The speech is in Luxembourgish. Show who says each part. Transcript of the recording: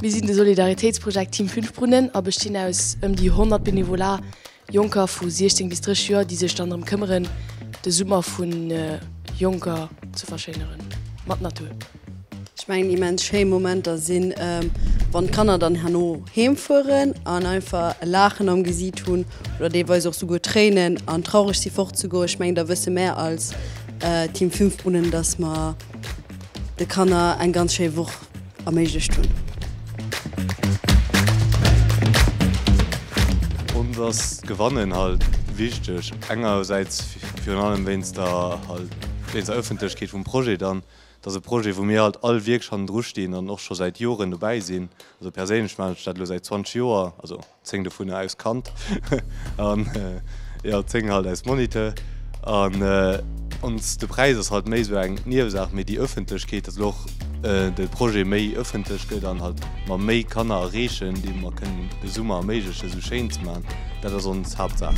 Speaker 1: Mir sinn de Solidaritéitsprojekt Team Fünf Brunnen a bestinn aus ëm déi 100 Benevolar, Jonker vu 16 bis 30 Joer, déi sech dann drëm këmmeren, de Summer vun Jonker ze verschéineren mat Natur. Ech mengen
Speaker 2: immens schéi Momenter sinn, wann d'Kanner dann herno heem fueren an einfach e Laachen am Gesiit hunn oder deelweis och souguer Tréinen an traureg si fort ze goen. Ech mengen da wësse mär als Team Fünfbrunnen, datt mer de Kanner eng ganz schéi Woch erméiglecht hunn.
Speaker 3: Ons ass d'Gewannen halt wichteg, engersäits virun allem wéinst der Ëffentlechkeet vum Projet dann Et ass e Projet, wou mir halt all wierklech hannendru stinn an och scho säit Joren dobäi sinn. Also perséinlech maachen ech dat elo säit 20 Joer, also 10 dovunner aus Kand an jo 10 halt aus Moniteur. An ons de Präis ass halt méi esou eng Niewesaach, mee déi Ëffentlechkeet, dass elo och de Projet méi ëffentlech gëtt an halt mer méi Kanner erreechen, deem mer kënnen de Summer erméiglechen, esou schéin ze maachen, dat ass ons Haaptsaach.